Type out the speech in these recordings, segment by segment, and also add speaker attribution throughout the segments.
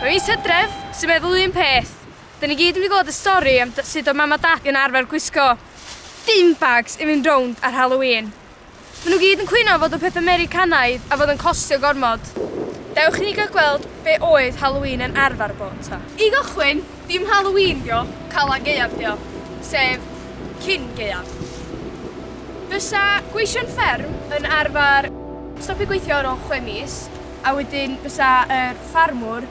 Speaker 1: Mae mis Hydref sy'n meddwl un peth. Da ni gyd yn mynd i glywed y stori am sut oedd mam a dad yn arfer gwisgo dim bags i fynd rownd ar Halloween. Maen nhw gyd yn cwyno am fod yn pethau Americanaidd a fod yn costio gormod. Dewch i ni gael gweld be oedd Halloween yn arfer bod ta. I gychwyn, dim Halloween dio, Calan Gaeaf dio, sef cyn gaeaf. Fysa gweision fferm yn arfer stopio gweithio ar ôl chwe mis a wedyn fysa yr ffarmwr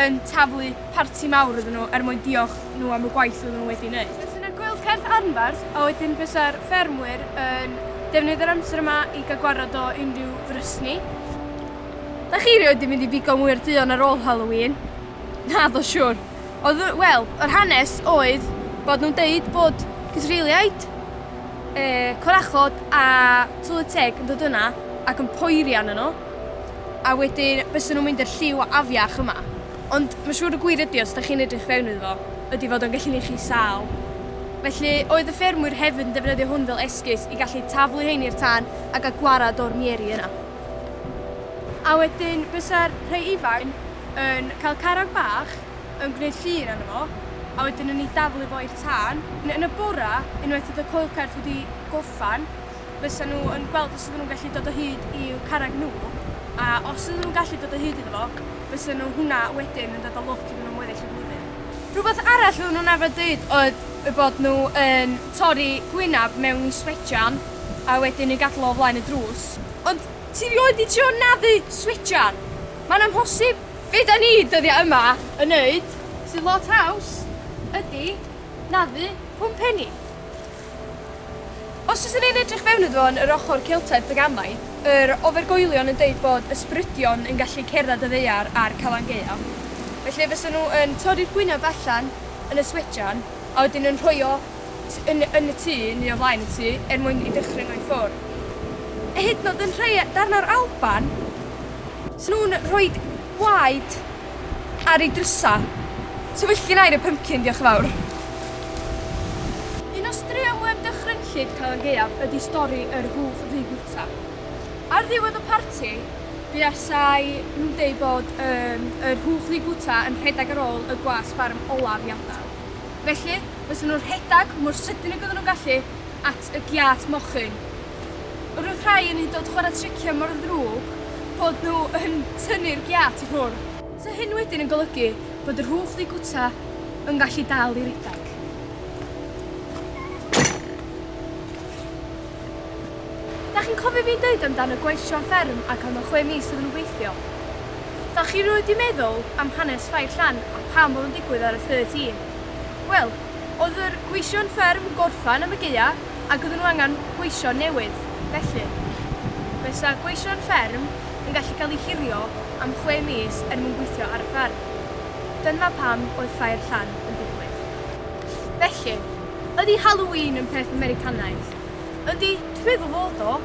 Speaker 1: yn taflu parti mawr iddyn nhw er mwyn diolch nhw am y gwaith oedden nhw wedi wneud. Bysen y gwyl cerdd anfarth a wedyn bysa'r ffermwyr yn defnyddio'r amser yma i gael gwarad o unrhyw frysni. Da chi rioed di mynd i bigo mwy'r duon ar ôl Halloween? Naddo siwr. Oedd y, wel, yr hanes oedd bod nhw'n deud bod cythriliaid, yy, corachod a tylwyth teg yn dod yna ac yn poeri arnyn nhw. a wedyn bysen nhw'n mynd i'r lliw afiach yma. Ond mae'n siŵr y gwir ydi, os da chi'n edrych fewn iddo fo, ydi fod o'n gallu neud chi sâl. Felly, oedd y ffermwyr hefyd yn defnyddio hwn fel esgus i gallu taflu hein i'r tân a gael gwared o'r mieri yna. A wedyn bysa'r rhai ifain yn cael carreg bach yn gwneud llun arno fo, a wedyn yn ei daflu fo i'r tân. Yn y bora, unwaith oedd y coelcerth wedi gorffan, fysa nhw yn gweld os ydyn nhw'n gallu dod o hyd i'w carreg nhw, a os ydyn nhw'n gallu dod o hyd iddo fo, fysa nhw hwnna wedyn yn dod â lwc iddyn nhw am weddill y flwyddyn. Rhywbeth arall oedden nhw'n arfer deud oedd eu bod nhw yn torri gwynab mewn i swejan a wedyn yn gadael o o flaen y drws. Ond ti rioed di trio naddu swejan? Mae'n amhosib! Be da ni dyddia yma yn neud sydd lot haws ydi naddu pwmpenni. Os oes yn ein edrych fewn iddo fo yn yr ochr Celtaidd Paganaidd, yr ofergoelion yn deud bod ysbrydion yn gallu cerdded y ddaear a'r Calan Gaeaf. Felly fysa nhw yn torri'r gwyneb allan yn y swejan a wedyn yn rhoi o yn yn y tŷ neu o flaen y tŷ er mwyn i dychryn o i ffwr. A hyd yn o'd yn rhei darn o'r Alban, 'sa nhw'n rhoid gwaed Ar ei drysa. Ti wyll gin air y pympcin, diolch yn fawr. Un o straeon mwyaf dychrynllyd Calan Gaeaf ydy stori yr hwf ddu bwyta. Ar ddiwedd y parti, buasai nhw'n deud bod yym yr hwf ddu bwyta yn rhedeg ar ôl y gwas ffarm olaf i adael. Felly, bysen nhw'n rhedeg mor sydyn ag oedden nhw'n gallu, at y giât mochyn. Yr oedd rhai yn hyd dod chwarae triciau mor ddrwg bod nhw yn tynnu'r giât i ffwrdd. Sa hyn wedyn yn golygu bod yr hwch ddu gwta yn gallu dal i redeg. Da chi'n cofio fi'n deud am dan y gweithio am fferm ac am y chwe mis oedden nhw'n gweithio? Da chi rioed di meddwl am hanes Ffair Llan a pam bod o'n digwydd ar y 13? Wel, Oedd yr gweision fferm yn gorffan am y gaea ac oedden nhw angen gweision newydd, felly, fe 'sa gweision fferm yn gallu cael eu hurio am chwe mis er mwyn gweithio ar y fferm. Dyna pam oedd ffair Llan yn digwydd. Felly, ydy Halloween yn peth Americanaidd? Ydy, dwi'n meddwl fod o,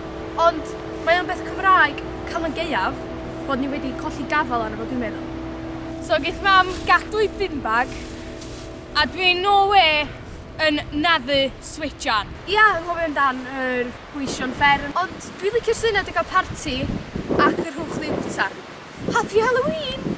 Speaker 1: ond mae o'n beth Cymraeg Calan Gaeaf bod ni wedi colli gafael arno fo dwi'n meddwl. So geith mam gadw ei bin bag. A dwi'n no way yn naddu switjan. Ia, anghofio amdan yr gweision fferm. Ond dwi licio'r syniad o gael parti ac y rhowch liw ta. Happy Halloween!